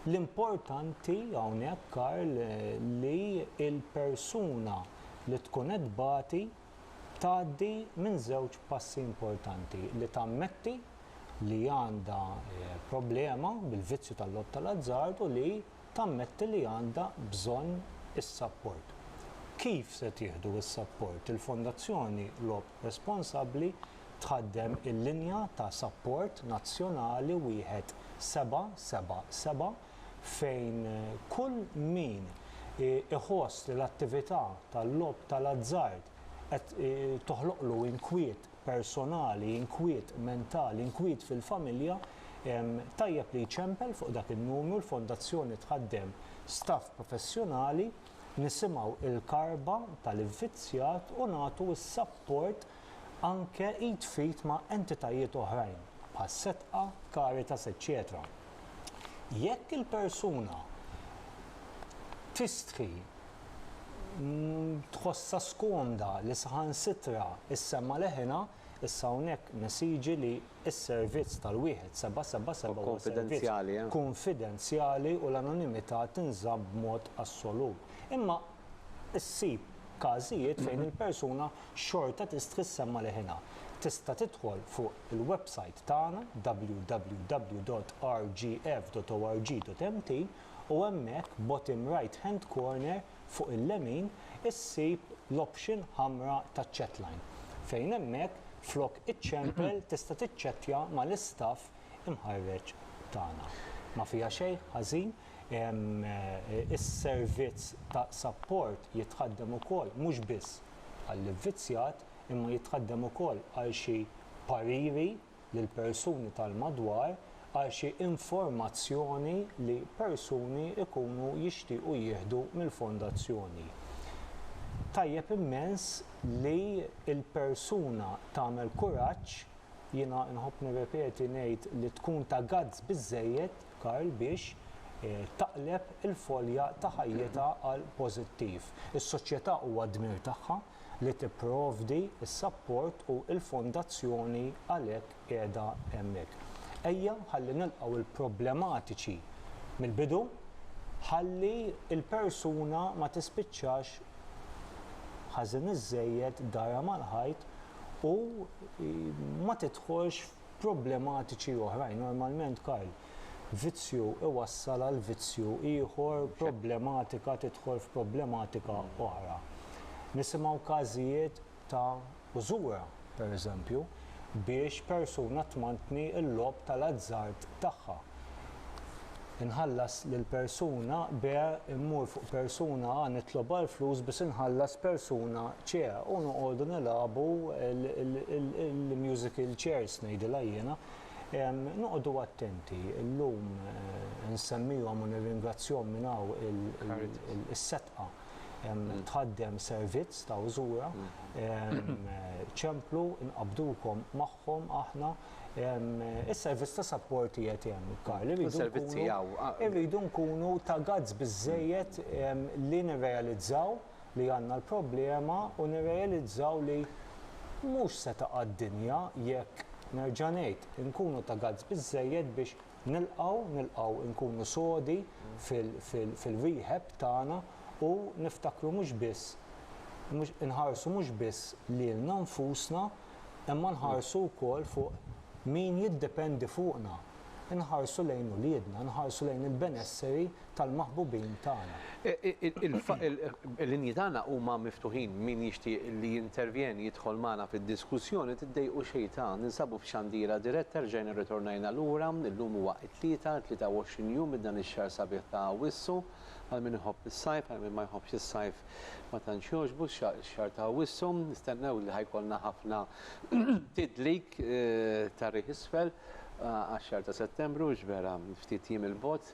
L-importanti hawnhekk Karl li l-persuna li tkun qed tbati tgħaddi minn żewġ passi importanti, li tammetti li għandha problema bil-vizzju tal-logħob tal-azzard u li tammetti li għandha bżonn is-sapport. Kif se tieħdu s-sapport? Il-Fondazzjoni Logħob Responsabbli tħaddem il-linja ta' sapport nazzjonali wieħed seba' seba' seba' fejn kull min iħoss li l-attività tal-logħob tal-azzard qed toħloqlu inkwiet personali, inkwiet mentali, inkwiet fil-familja, tajjeb li jċempel fuq dak in-numru, l-Fondazzjoni tħaddem staff professjonali, nisimgħu l-karba tal-ivvizzjat u nagħtu s-sapport anke id f'id ma' entitajiet oħrajn bħas-SETCA, Caritas eċċetera. jekk il-persuna tistħi tħossha skomda li saħansitra ssemma' leħinha, issa hawnhekk nesiġi li s-servizz tal-wieħed seba' seba' seba' huwa servizz kunfidenzjali u l-anonimità tinżamm b'mod assolut. Imma issib każijiet fejn il-persuna xorta tistħi ssemma' leħinha. Tista' tidħol fuq il-websajt tagħna www.rgf.org.mt u hemmhekk bottom right hand corner fuq il-lemin issib l-option ħamra ta' chatline fejn hemmhekk flok iċċempel tista' tiċċettja mal-istaff imħarreġ tagħna. Ma fiha xejn ħażin is-servizz ta' sapport jitħaddem ukoll mhux biss għall-ivvizzjat imma jitħaddem ukoll għal xi pariri lill-persuni tal-madwar għal xi informazzjoni li persuni jkunu jixtiequ jieħdu mill-fondazzjoni. Tajjeb immens li l-persuna tagħmel kuraġġ, jiena nħobb nirrepeti ngħid li tkun ta' guts biżżejjed, Karl biex taqleb il-folja ta' ħajjitha għal pożittiv. Is-Soċjetà huwa d-dmir tagħha li tipprovdi s-sapport u l-fondazzjoni għalhekk qiegħda hemmhekk. Ejja ħalli nilqgħu l-problematiċi mill-bidu ħalli l-persuna ma tispiċċax ħażin iżżejjed darha mal-ħajt u ma tidħolx problematiċi oħrajn. Normalment, Karl, vizzju iwassal għal vizzju ieħor, problematika tidħol f'problematika oħra. Nisimgħu każijiet ta' użura, pereżempju, biex persuna tmantni l-logħob tal-azzard tagħha. Inħallas lil persuna B, immur fuq persuna A nitlob għal flus biex inħallas persuna C u noqogħdu nilagħbu l-musical chairs ngħidilha jiena. Noqogħdu attenti, illum insemmihom u nirringrazzjahom minn hawn is-setqa. Tħaddem servizz ta' użura. Ċemplu, inqabdukom magħhom aħna. Is-servizz ta' sapport qiegħed hemm, Karl, irridu nkunu ta' gazz biżejjed li nirrealizzaw li għandna l-problema u nirrealizzaw li mhux se taqa' d-dinja jekk, nerġa' ngħid, inkunu ta' gazz biżejjed biex Nilqgħu, nilqgħu nkunu sodi fil-rehab tagħna u niftakru mhux biss, inħarsu mhux biss lilna nfusna imma nħarsu wkoll fuq min jiddependi fuqna. Inħarsu lejn uliedna, inħarsu lejn il-benesseri tal-maħbubin tagħna. Il-linji tagħna huma miftuħin, min jixtieq li jintervjeni jidħol magħna fid-diskussjoni, tiddejqux xejtan, ninsabu f'xandira diretta rġajna rritornajna lura, illum huwa t-Tlieta, 23 jum minn dan ix-xahar sabiħ ta' Awwissu, għal min iħobb is-sajf, għal min ma jħobbx is-sajf ma tantx jogħġbu x-xahar ta' Awwissu, nistennew li ħa jkollna ħafna tidlik ta' riħ isfel għax-xahar ta' Settembru, x'vera ftit jiem 'il bogħod.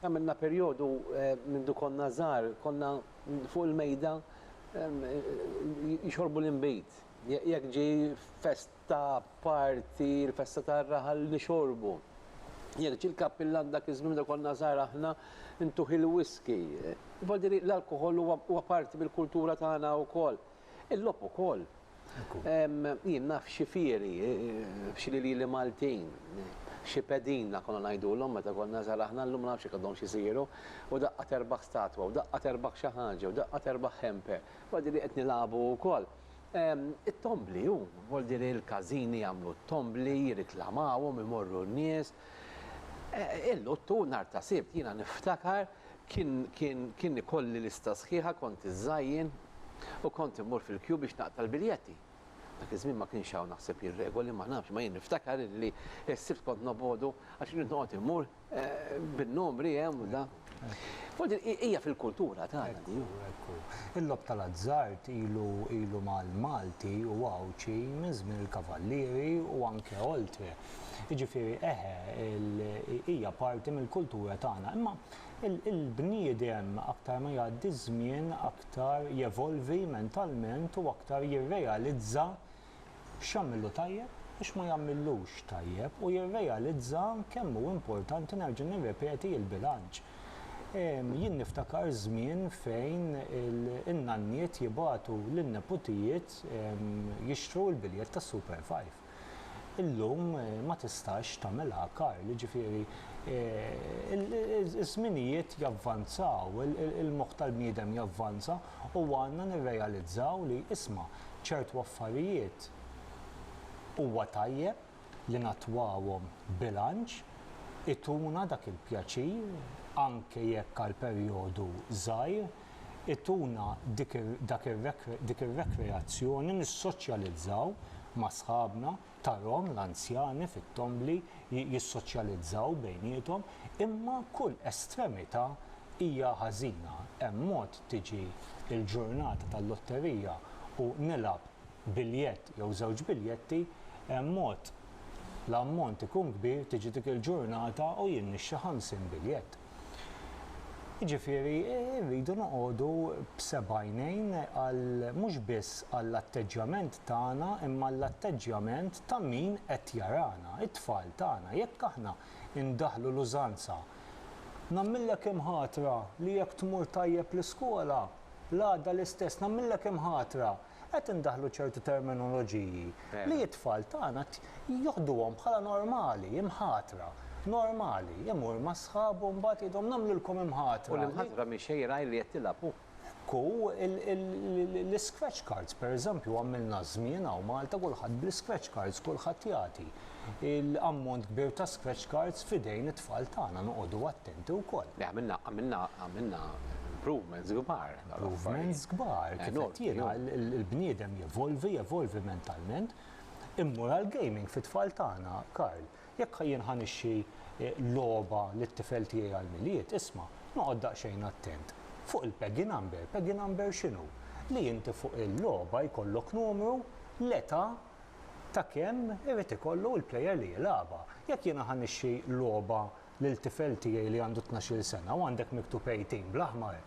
Għamilna perjodu mindu konna żgħar konna fuq il-mejda jixorbu l-inbid. Jekk ġie festa, party, il-festa tar-raħal nixorbu. Jekk ġie l-kappillan dak iż-żmien mindu konna żgħar aħna ntuh il-whisky. Jfadili l-alkoħol huwa parti mill-kultura tagħna wkoll. Il-logħob ukoll. Jien naf xi fieri, f'xi lilieli Maltin, xi pedina konna ngħidulhom meta konna żgħar aħna, llum ma nafx jekk għadhomx isiru, u daqqa terbaħ statwa, u daqqa terbaħ xi ħaġa, u daqqa terbaħ ħempe, bħal din li qed nilagħbu wkoll. It-tombli hu, vol dire l-każini jagħmlu t-tombli, jiriklamawhom, imorru n-nies. Il-Luttu, nhar ta' Sibt, jiena niftakar Kien, kien, kien ikolli lista sħiħa, kont iżżajjen u kont immur fil-kju biex naqta' l-biljetti. Dak iż-żmien ma kienx hawn naħseb jien regoli, ma nafx, imma jien niftakar illi s-Sibt kont nobgħodu għax irid noqgħod immur bin-numri hemm u da. U din hija fil-kultura tagħna di. Ekku, ekku. Il-logħob tal-azzard ilu, ilu mal-Malti u Għawdxi minn żmien il-Kavallieri u anke oltre. Jiġifieri eħe, hija parti mill-kultura tagħna. Imma il-bniedem aktar ma jgħaddi ż-żmien aktar jevolvi mentalment u aktar jirrealizza x'jagħmillu tajjeb u x'ma jagħmillux tajjeb u jirrealizza kemm hu importanti nerġa' nirrepeti l-bilanċ. Jien niftakar żmien fejn in-nanniet jibagħtu lin-neputijiet jixtru l-biljett tas-Super Five. illum ma tistax tagħmilha karl, jiġifieri ż-żminijiet javvanzaw, il-moħħ tal-bniedem javvanza u għandna nirrealizzaw li isma' ċertu affarijiet huwa tajjeb li nattwawhom b'bilanċ, ituna dak il-pjaċir anke jekk għal perjodu żgħir. ituna dik ir-rekreazzjoni nissoċjalizzaw ma' sħabna, tarhom l-anzjani fit-tombli jissoċjalizzaw bejniethom, imma kull estremità hija ħażina. Hemm mod tiġi l-ġurnata tal-lotterija u nilgħab biljett jew żewġ biljetti, hemm mod l-ammont ikun kbir tiġi dik il-ġurnata u jien nixtri ħamsin biljett. Jiġifieri rridu noqogħdu b'sebgħajnejn għal mhux biss għall-atteġġjament tagħna imma għall-atteġġjament ta' min qed jarana, it-tfal tagħna. Jekk aħna ndaħħlu l-użanza Nagħmillek imħatra li jekk tmur tajjeb l-iskola, l-għada l-istess, nagħmillek imħatra qed indaħħlu ċertu terminoloġiji li t-tfal tagħna joħduhom bħala normali, imħatra, normali, imur ma' sħabu u mbagħad jgħidhom nagħmlilkom imħatra. U l-imħatra mhix xejra li qed tilgħab hu. Ekku, l-iscratch cards pereżempju għamilna żmien hawn Malta kulħadd bl-iscratch cards, kulħadd jagħti ammont kbir ta' scratch cards f'idejn it-tfal tagħna, noqogħdu attenti wkoll. Le għamilna, għamilna, għamilna improvements kbar. improvements kbar, kif qed jiena, il-bniedem jevolvi, jevolvi mentalment. Immur għal gaming fit-tfal tagħna, Karl, jekk jien ħanixxi eh, logħba lit-tifel tiegħi għall-milied, isma', noqgħod daqsxejn attent. Fuq il-peggy number, peggy number x'inhu? Li inti fuq il-logħba jkollok numru l-età ta' kemm irid ikollu l-plejer li jilagħba. Jekk jiena ħanixxi logħba lil tifel tiegħi li għandu tnax-il sena u għandek miktub 18 bl-aħmar,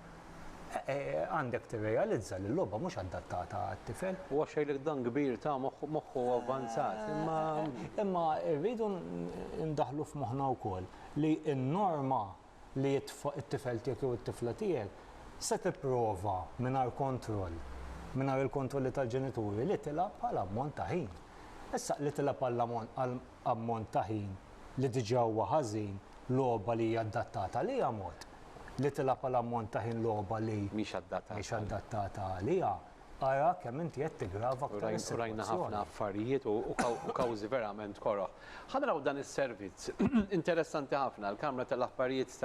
għandek tirrealizza li l-logħba mhux adattata għat-tifel. Huwa xgħidlek dan kbir ta' moħħu avvanzat, imma. Imma rridu ndaħħlu f'moħħna wkoll li n-norma li t-tifel tiegħek jew it-tifla tiegħek se tipprova mingħajr kontroll, mingħajr il-kontrolli tal-ġenituri li tilgħab għal ammont ta' ħin. Issa li tilgħab għall-ammont ammont ta' ħin li diġà huwa ħażin logħba li hija adattata għaliha mod li tilgħab għal ammont ta' ħin logħba li mhix adattata għaliha, ara kemm inti qed tiggrava aktar is-sitwazzjoni. U rajna ħafna affarijiet u kawżi verament koroh. Ħa naraw dan is-servizz interessanti ħafna. Il-Kamra tal-Aħbarijiet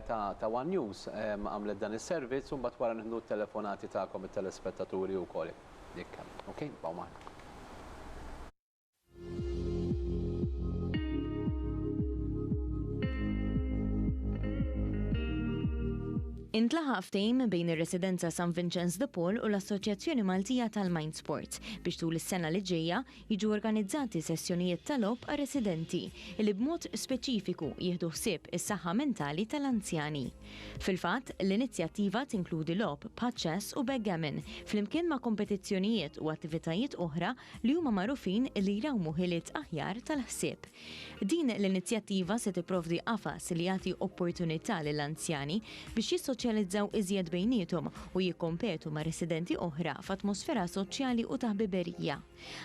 ta' one News għamlet dan is-servizz u mbagħad wara nieħdu t-telefonati tagħkom it-telespettaturi wkoll jekk hemm. Ok, ibqgħu magħna. Intlaħaq ftehim bejn ir-Residenza San Vinċenz de Paul u l-Assoċjazzjoni Maltija tal-Mind Sport biex tul is-sena li ġejja jiġu organizzati sessjonijiet ta' logħob għar-residenti li b'mod speċifiku jieħdu ħsieb is-saħħa mentali tal-anzjani. Fil-fatt, l-inizjattiva tinkludi logħob bħaċ-chess u backgammon flimkien ma' kompetizzjonijiet u attivitajiet oħra li huma magħrufin li jrawmu ħiliet aħjar tal-ħsieb. Din l-inizjattiva se tipprovdi qafas li jagħti opportunità lil anzjani biex jissoċjalizzaw iżjed bejniethom u jikkompetu ma' residenti oħra f'atmosfera soċjali u ta' ħbiberija.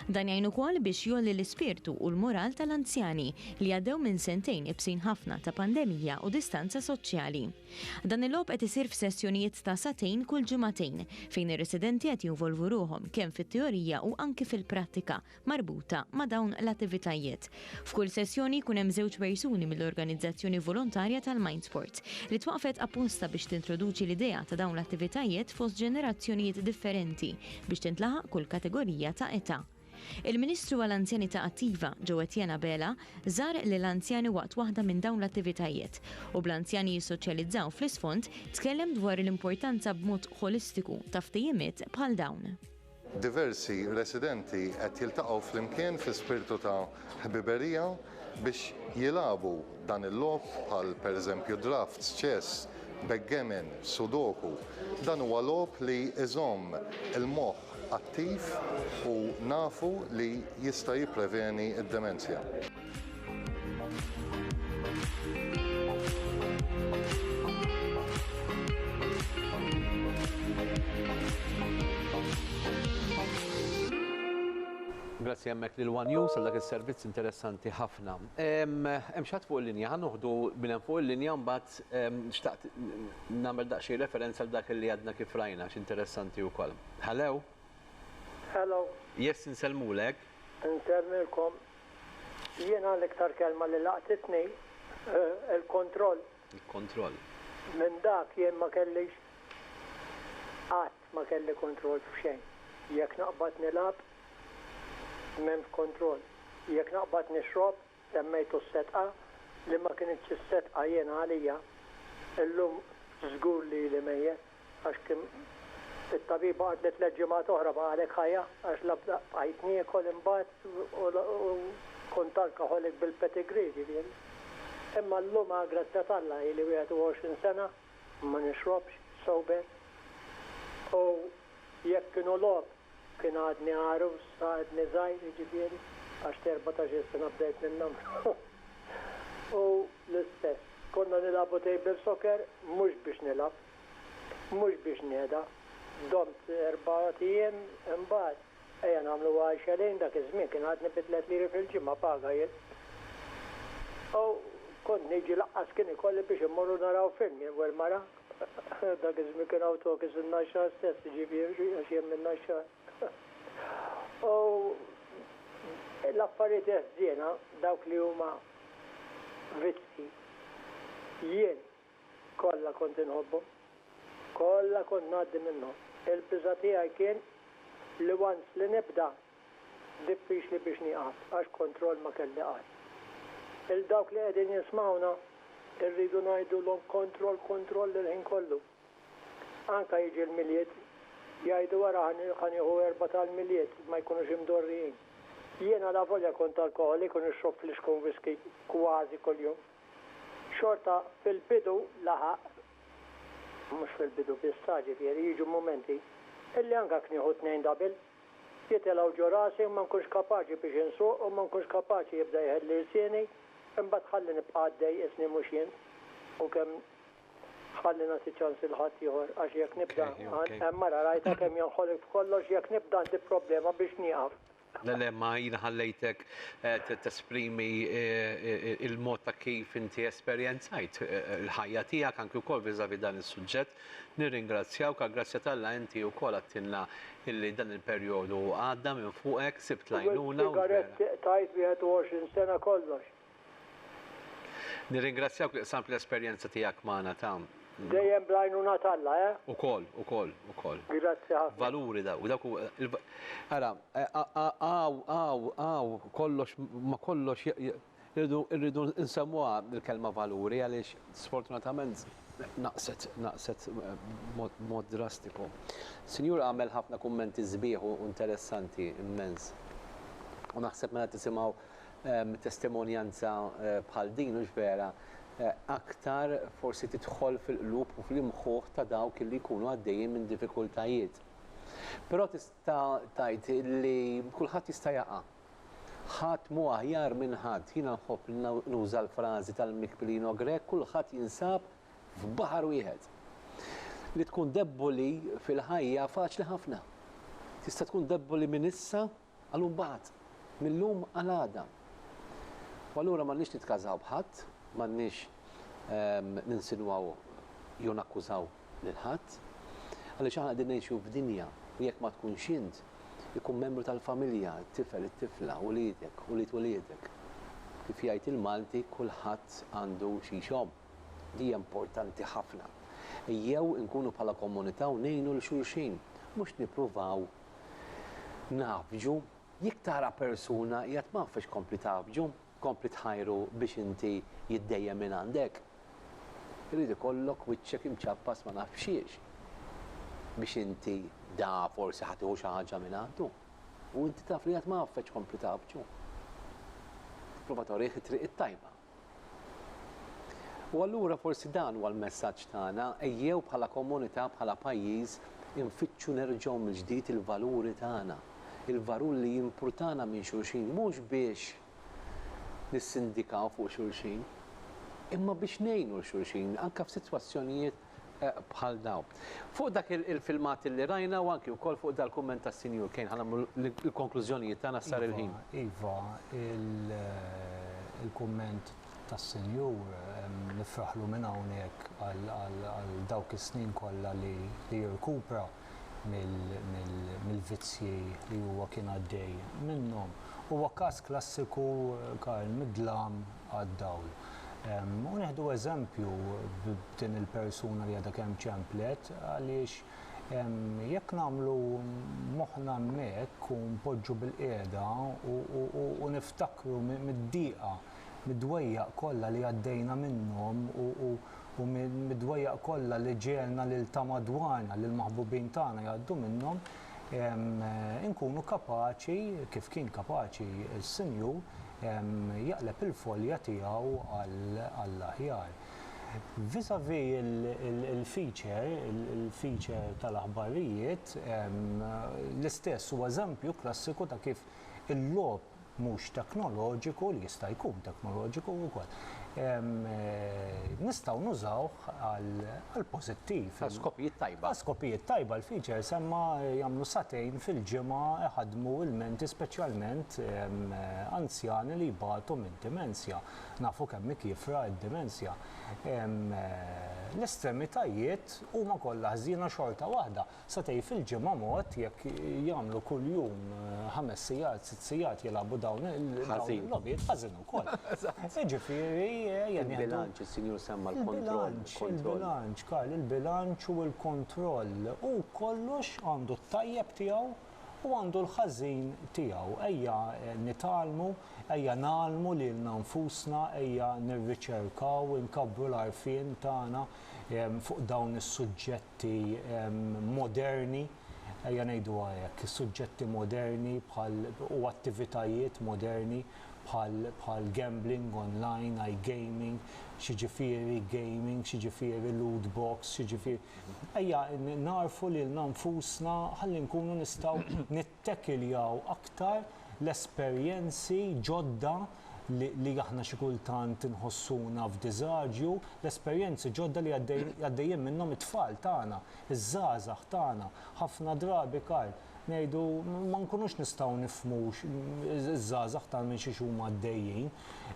Dan jgħin ukoll biex jgħolli l-ispirtu u l-moral tal-anzjani li għaddew minn sentejn ibsin ħafna ta' pandemija u distanza soċjali. Dan il-logħob qed isir f'sessjonijiet ta' sagħtejn kull ġimagħtejn, fejn ir-residenti qed jinvolvu ruħhom kemm fit-teorija u anki fil-prattika marbuta ma' dawn l-attivitajiet. F'kull sessjoni jkun hemm żewġ persuni mill-organizzazzjoni volontarja tal-Mindsport, li twaqqfet apposta biex tintroduċi l-idea ta' dawn l-attivitajiet fost ġenerazzjonijiet differenti biex tintlaħaq kull kategorija ta' età. Il-Ministru għall-Anzjanità Attiva, Jo Etienne Abela, żar lill-anzjani waqt waħda minn dawn l-attivitajiet u bl-anzjani jissoċjalizzaw fl-isfond tkellem dwar l-importanza b'mod ħolistiku ta' ftehimiet bħal dawn. Diversi residenti qed jiltaqgħu flimkien fi spirtu ta' ħbiberija biex jilagħbu dan il-logħob bħal per eżempju drafts, chess, backgammon, sudoku. Dan huwa logħob li iżomm il-moħħ attiv u nafu li jista' jippreveni d-demenzja. Grazzi hemmhekk lil one News għal dak is-servizz interessanti ħafna. Hemm xi ħadd fuq il-linja? Ħa noħdu min hemm fuq il-linja u mbagħad Fil-fatt, xtaqt nagħmel daqsxejn referenza għal dak li għadna kif rajna għax interessanti wkoll. Hello? Hello. Yes, insellmulek. Insellmilkom. Jiena l-iktar kelma li laqtitni hi l-kontroll. Il-kontroll. Minn dak jien ma kellix qatt ma kelli kontroll f'xejn. Jekk naqbad nilgħab, m'hemmx kontroll. Jekk naqbad nixrob, Semmejtu s-setqa li ma kinitx is-setqa jiena għalija, illum żgur li ili mejjet għax kien it-tabiba qaltli tliet ġimgħat oħra baqgħalek ħajja għax la bqajt niekol imbagħad u la kont alcoholic bil-pedigree ġifieri. Imma llum għall-grazzja t'Alla ili 21 sena ma nixrobx, sober, u jekk kienu logħob Kien għadni għarus, għadni żgħir jiġifieri, għax t'erbatax-il sena bdejt ninnamra. Hu l-istess. Konna nilagħbu table soccer mhux biex nilgħab. Mhux biex nihda. Domt erbat ijiem, imbagħad, ejja nagħmluha għal xelejn, dak iż-żmien kien għadni bi tliet liri fil-ġimgħa paga jien. U kont niġi laqqas kien ikolli biex immorru naraw film jien u l-mara. Dak iż-żmien kien hawn tokis in-Naxxar stess, jiġifieri għax hemm in-Naxxar. U l-affarijiet ħżiena, dawk li huma vizzji, jien kollha kont inħobbhom. Kollha kont ngħaddi minnhom. Il-biża' tiegħi kien li once li nibda diffiċli biex nieqaf għax kontroll ma kelli qatt. Lil dawk li qegħdin jismgħuna rridu ngħidulhom kontroll kontroll il-ħin kollu. Anke jiġi l-Milied jgħidu ara ħa nieħu erbgħa tal-Milied ma jkunux imdorrijin. Jien alavolja kont alkoħolik u nixrob flixkun whiskey kważi kuljum, xorta fil-bidu laħaq, mhux fil-bidu biss sa, ġifieri jiġu mumenti, illi anke knieħu tnejn double. Jitilgħu ġo rasi u ma nkunx kapaċi biex insuq u ma nkunx kapaċi jibda jħelli lsieni, imbagħad ħalli nibqa' għaddej qisni mhux jien u kemm ħalli nagħti ċans lil ħadd ieħor għax jekk nibda hemm ara rajtha kemm jonħolok f'kollox jekk nibda għandi problema biex nieqaf. Le le ma jiena ħallejtek tesprimi l-mod ta' kif inti esperjenzajt il-ħajja tiegħek anki wkoll vis-à-vis dan is-suġġett Nirringrazzjawk, għall-grazzja t'Alla inti wkoll għadtilna illi dan il-perjodu għadda minn fuqek, sibt l-għajnuna u l-vera. Sigaretti qtajt 21 sena kollox. Nirringrazzjawk li qsamt l-esperjenza tiegħek magħna ta'. Dejjem bl-għajnuna t'Alla, eh? Ukoll, ukoll, ukoll. Grazzi ħafna. Valuri dawk, dawk huma l-va. Ara, hawn, hawn, hawn kollox, ma' kollox Irridu, irridu nsemmuha l-kelma valuri għaliex sfortunatament naqset, naqset b'mod, b'mod drastiku. Sinjur għamel ħafna kummenti sbieħ u interessanti immens. U naħseb meta tisimgħu testimonjanza bħal din, hux vera, aktar forsi tidħol fil-qlub u fl-imħuħ ta' dawk li jkunu għaddejjin minn diffikultajiet. Però tista' tgħid li kulħadd jista' jaqa'. Ħadd mhu aħjar minn ħadd. Jiena nħobb li nuża l-frażi tal-mikpilino Grech kulħadd jinsab f'baħar wieħed. Li tkun debboli fil-ħajja faċli ħafna. Tista' tkun debboli minn issa għal mbagħad, mil-lum għal għada. U allura m'għandniex nitkażaw b'ħadd, m'għandniex ninsinwaw jew nakkużaw lil ħadd. Għaliex aħna qegħdin ngħixu f'dinja li jekk ma tkunx int, ikun membru tal-familja, it-tifel, it-tifla, uliedek, ulied uliedek. Kif jgħid il-Malti, kulħadd għandu xi jxomm. Din hija importanti ħafna. Ejjew inkunu bħala komunità u ngħinu 'l xulxin, mhux nippruvaw ngħaffġu. Jekk tara persuna qiegħed m'għaffex kompli tgħaffġu. tkompli tħajru biex inti jiddejjem minn għandek, irid ikollok wiċċek imċappas ma nafx x'hiex biex inti da forsi ħa tieħu xi ħaġa minn għandu u inti taf li għad ma għaffek tkompli tgħabbġu. Tipprova torih it-triq it-tajba. U allura forsi dan huwa l-messaġġ tagħna, ejjew bħala komunità, bħala pajjiż, infittxu nerġgħu mill-ġdid il-valuri tagħna. il-varur li jimpurtana minn xulxin mhux biex nissindikaw fuq xulxin, imma biex ngħinu lil xulxin anke f'sitwazzjonijiet bħal dawn. Fuq dak il-filmat li rajna u anke wkoll fuq dal-kumment tas-Sinjur Kane ħa nagħmlu l-konklużjonijiet tagħna sar il-ħin. Iva, il-kumment tas-Sinjur nifraħlu minn hawnhekk għal dawk is-snin kollha li jirkupra. mill-vizzji li huwa kien għaddej minnhom. Huwa każ klassiku Karl mid-dlam għad-dawl. U neħdu eżempju b'din il-persuna li għadha kemm ċemplet għaliex jekk nagħmlu moħħna hemmhekk u npoġġu bil-qiegħda u niftakru mid-dieqa mid-dwejjaq kollha li għaddejna minnhom u u u mid-dwejjaq kollha li ġegħelna lil ta' madwarna, lill-maħbubin tagħna jgħaddu minnhom, inkunu kapaċi, kif kien kapaċi s-Sinjur, jaqleb il-folja tiegħu għall-aħjar. Vis-à-vis il-feature, il-feature tal-aħbarijiet, l-istess huwa eżempju klassiku ta' kif il-logħob mhux teknoloġiku, li jista' jkun teknoloġiku wkoll, nistgħu nużawh għall-pożittiv. Għal skopijiet tajba. Għal skopijiet tajba l-features imma jagħmlu sagħtejn fil-ġimgħa iħaddmu ilmenti speċjalment anzjani li jbatu minn dimensja. Nafu kemm hi kiefra d-dimensja. L-estremitajiet huma kollha ħżiena xorta waħda Satejn fil-ġimgħa mod jekk jagħmlu kuljum ħames sigħat, sitt sigħat jilagħbu dawn il-logħbiet ħażin ukoll. Jiġifieri ejja nieħdu. Il-bilanċ, is-Sinjur semma l-kontroll. Il-bilanċ, Karl, il-bilanċ u l-kontroll. Hu kollox għandu t-tajjeb tiegħu u għandu l-ħażin tiegħu. Ejja nitgħallmu, ejja ngħallmu lilna nfusna, ejja nirriċerkaw, inkabbru l-għarfien tagħna fuq dawn is-suġġetti. suġġetti moderni, ejja ngħiduha hekk, suġġetti moderni bħal u attivitajiet moderni bħal bħal gambling online, iGaming, x'jiġifieri gaming, x'jiġifieri loot box, x'jiġifieri. Ejja nagħrfu lilna nfusna ħalli nkunu nistgħu Tekiljaw aktar l-esperjenzi ġodda li aħna xi kultant inħossuna f'diżaġju, l-esperjenzi ġodda li għaddejjin minnhom it-tfal tagħna, iż-żgħażagħ tagħna. Ħafna drabi, Karl, ngħidu ma nkunux nistgħu nifhmu ż-żgħażagħ tagħna minn xiex huma għaddejjin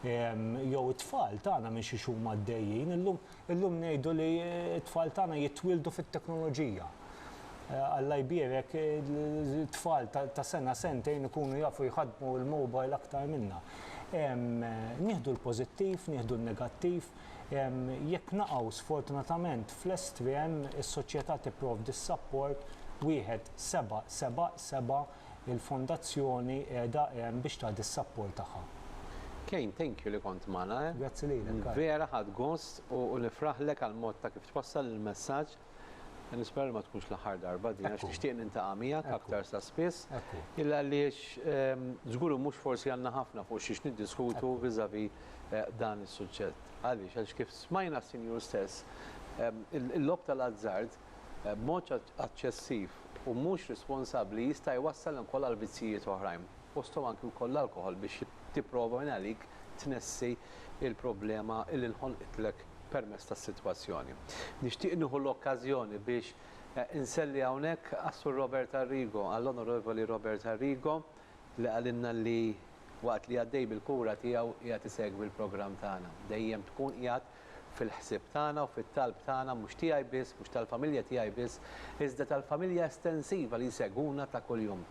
jew it-tfal tagħna minn xiex huma għaddejjin illum. Illum ngħidu li t-tfal tagħna jitwieldu fit-teknoloġija. Alla jbierek, it-tfal ta' sena, sentejn ikunu jafu jħaddmu l-mobile aktar minna. Nieħdu l-pożittiv, nieħdu n-negattiv. Jekk naqgħu sfortunatament fl-estrem, is-soċjetà tipprovdi s-sapport wieħed seba' seba' seba' Il-Fondazzjoni qiegħda hemm biex tagħti s-sapport tagħha. Kane, thank you li kont magħna, eh. Grazzi lilek, Karl. Vera ħadt gost u nifraħlek għall-mod ta' kif twassal il-messaġġ. Nispera li ma tkunx l-aħħar darba din għax nixtieq nintaqa' miegħek aktar sa spiss. Illa għaliex żgur u mhux forsi għandna ħafna fuq xiex niddiskutu vis-à-vis dan is-suġġett. Għaliex? Għaliex kif smajna s-Sinjur stess, il-logħob tal-azzard b'mod aċċessiv u mhux responsabbli jista' jwassal ukoll għal vizzijiet oħrajn, fosthom anki wkoll l-alkoħol biex tipprova minn għalik tnessi l-problema li nħolqitlek permezz tas-sitwazzjoni. Nixtieq nieħu l-okkażjoni biex inselli hawnhekk għas-Sur Robert Arrigo, għall-Onorevoli Robert Arrigo li qalilna li waqt li għaddej bil-kura tiegħu qiegħed isegwi l-programm tagħna. Dejjem tkun qiegħed fil-ħsieb tagħna u fit-talb tagħna, mhux tiegħi biss, mhux tal-familja tiegħi biss, iżda tal-familja estensiva li jsegwuna ta' kuljum.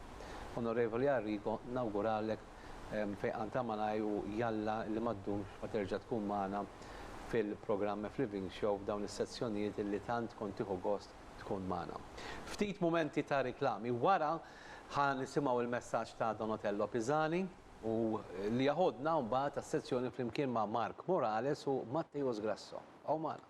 Onorevoli Arrigo, nawguralek fejqan ta' malajr u jalla li ma ddumx ma terġa' tkun magħna fil-programm F-Living Show f'dawn is-sezzjonijiet li tant kont tieħu gost tkun magħna. Ftit mumenti ta' riklami. Wara ħa nisimgħu l-messaġġ ta' Donotello Pisani. u li jaħodna mbagħad għas-sezzjoni flimkien ma' Mark Morales u Matteus Grasso. Bqgħu magħna.